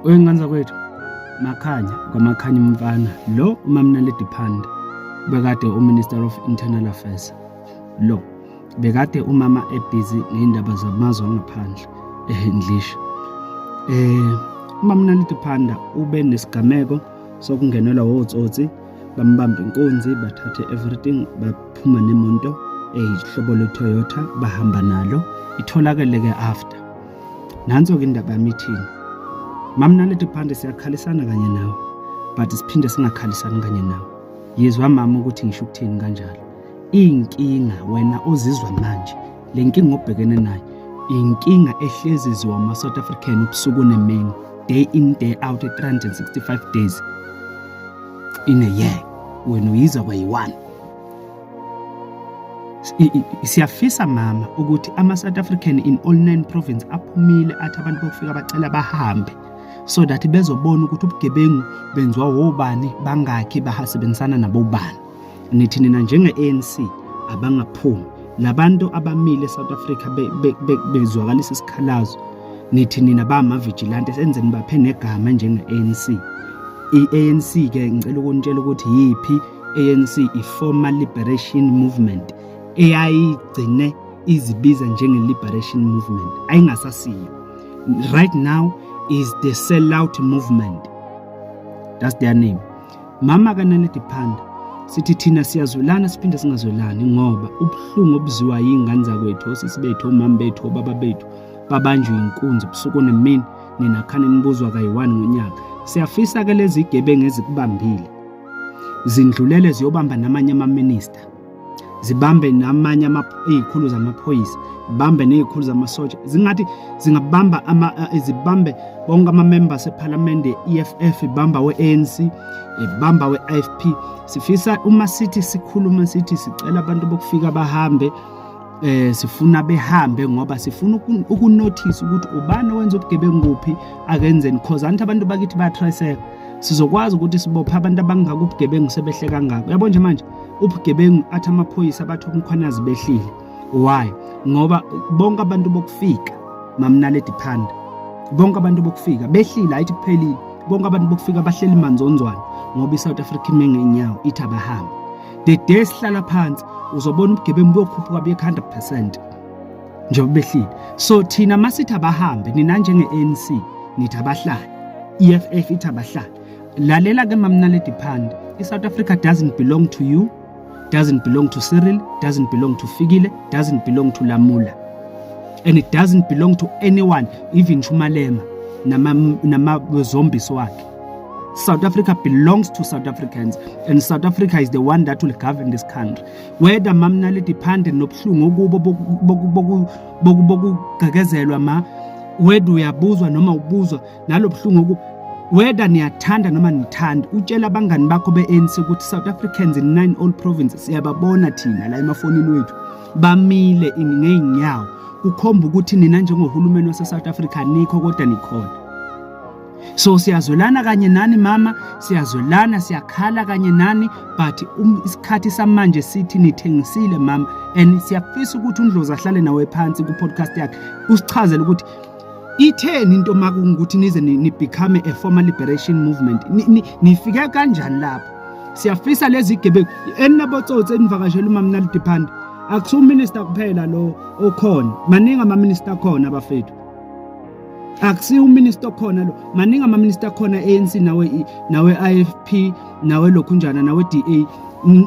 Uyinganza kwethu Makhanya kwaMakhanya umfana lo uMamnaledi Phande bekade uMinister of Internal Affairs lo bekade umama ebhizi ngendaba zamazwe angaphandle eHendlisha eh uMamnaledi Phanda ube nesigameko sokungenelwa wotsotsi bambamba inkunzi bathathe everything baphuma nemonto ehlobo leToyota bahamba nalo itholakele ke after nanso-ke indaba yami ithini mamnalete phande siyakhalisana kanye nawe but siphinde singakhalisani kanye nawe yezwa mama ukuthi ngisho ukuthini kanjalo iy'nkinga wena ozizwa manje le nkinga obhekene nayo inkinga ehlezi ziwa ama-south african ubusuku nemini day in day out e-365 days in a year wena uyizwa kwayi-one siyafisa mama ukuthi ama-south african in all nine province aphumile athi abantu bokufika bacela bahambe so that bezobona ukuthi ubugebengu benziwa wobani bangakhi bahasebenzisana nabobani nithi nina njenge-anc abangaphumi labantu abamile e-south africa bezwakalisa isikhalazo nithi nina bamavigilante senze nibaphe negama njenge-anc i-anc-ke ngicela ukunitshela ukuthi yiphi ANC iFormer Liberation Movement eyayigcine izibiza njenge Liberation Movement ayingasasiyo right now is the sellout movement that's their name mama kanaledi phanda sithi thina siyazwelana siphinde singazwelani ngoba ubuhlungu obuziwa yingane zakwethu osisi bethu omama bethu obaba bethu babanjwe inkunzi ubusuku nemini nina khane nibuzwa kayi-1 ngonyaka siyafisa-ke lezi gebengu ezikubambile zindlulele ziyobamba namanye amaminista zibambe namanye izikhulu zamaphoyisa zibambe nezikhulu zamasotsha zingathi zingabamba eh, zibambe bonke amamemba sephalamende EFF ibamba we-ANC ibamba we-IFP sifisa uma sithi sikhuluma sithi sicela abantu bokufika bahambe eh sifuna behambe ngoba sifuna ukunotice ukuthi ubani owenza ubugebengu kuphi akenzeni because anti abantu bakithi bayatraceka sizokwazi ukuthi sibophe abantu abangaka ubugebengu sebehle kangaka uyabo nje manje ubugebengu athi amaphoyisa bathi umkhwanazi behlile why ngoba bonke abantu bokufika mamnaledi phanda bonke abantu bokufika behlile ayithi kuphelile bonke abantu bokufika bahleli manzonzwana ngoba i-south africa imengenyawo ithi abahambe the day sihlala phansi uzobona ubugebengu buyokhuphuka buye 100% njengoba behlile so thina masithi abahambe nina njenge-anc nithi abahlali i-eff ithi abahlali lalela ke mamnaledi phande i-south africa doesn't belong to you doesn't belong to cyril doesn't belong to fikile doesn't belong to lamula and it doesn't belong to anyone even shumalema namazombies wakhe South Africa belongs to South Africans and South Africa is the one that will govern this country whether mamnali depend nobuhlungu okubo bokugqekezelwa ma whether uyabuzwa noma ubuzwa nalobuhlungu oku whether niyathanda noma nithanda utshela abangani bakho be-ANC ukuthi South Africans in nine all provinces siyababona thina la emafonini wethu bamile ngeenyawo kukhomba ukuthi nina njengohulumeni wase-South Africa nikho kodwa nikhona so siyazwelana kanye nani mama siyazwelana siyakhala kanye nani but um, isikhathi samanje sithi nithengisile mama and siyafisa ukuthi undlozi ahlale nawe phansi ku-podcast yakhe usichazele ukuthi itheni into makungukuthi nize nibecome a former liberation movement nifike kanjani lapho siyafisa lezi gebengu eninabotsotsi enivakashela umamnali diphanda akusiwuminister kuphela lo okhona maningi amaminister akhona bafethu akusiyo uminister okhona lo maningi amaminister akhona ANC nawe nawe IFP nawe lokhunjana nawe DA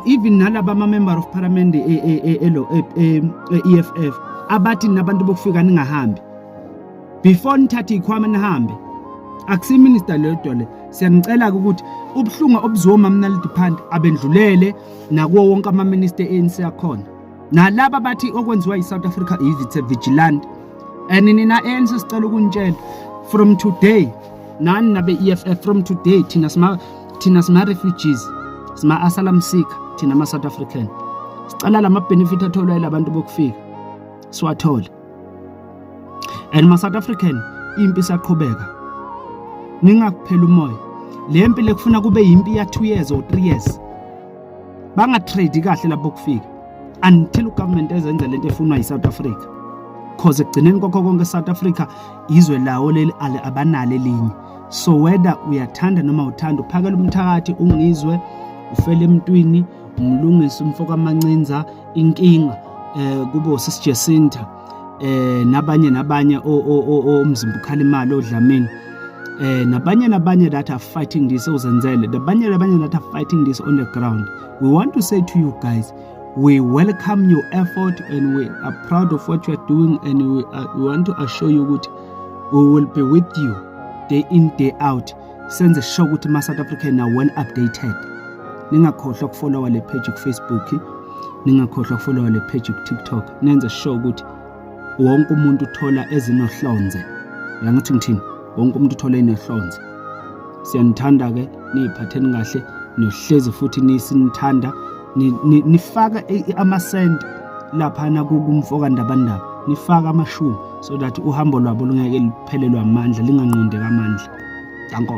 even nalaba ama member of parliament elo e, e, e, EFF abathi nabantu bokufika ningahambi before nithathe ikhwama nihambe akusiyo minister lodwa le siyanicela ke ukuthi ubuhlungu obuzoma mnalidiphanti abendlulele nakuwo wonke ama minister ANC akhona nalaba bathi okwenziwa yi-south africa it's a vigilante and nina ANC sicela ukunitshela from today nani nabe EFF from today thina sima thina sima refugees sima asylum seeker thina ama South African sicela lama benefit atholwa ilabantu bokufika siwathole and ma South African impi saqhubeka ningakuphela umoya le mpi lekufuna kube yimpi ya 2 years or 3 years bangatrade kahle lapho kufika until ugovernment ezenza lento efunwa yiSouth Africa cause ekugcineni kwakho konke South Africa izwe lawo leli abanalo elinye so whether uyathanda noma uthanda uphakela umthakathi ungizwe ufele emntwini umlungisi umfoka mancinza inkinga eh kubo sisijesinta eh nabanye nabanye omzimba ukhala imali odlamini eh nabanye nabanye that are fighting this ozenzele nabanye nabanye that are fighting this on the ground we want to say to you guys we welcome your effort and we are proud of what you are doing and we, are, we want to assure you ukuthi we will be with you day in day out senze sure ukuthi ma South African are well updated ningakhohlwa ukufollowa le page ku Facebook ningakhohlwa ukufollowa le page ku TikTok nenze sure ukuthi wonke umuntu uthola ezinohlonze yangithi ngithini wonke umuntu uthola enohlonze siyanithanda ke niyiphatheni kahle nohlezi futhi nisinithanda nifaka amasenti laphana kumfoka ndabandaba nifaka amashumi so that uhambo lwabo lungeke phelelwa amandla linganqondeka amandla danko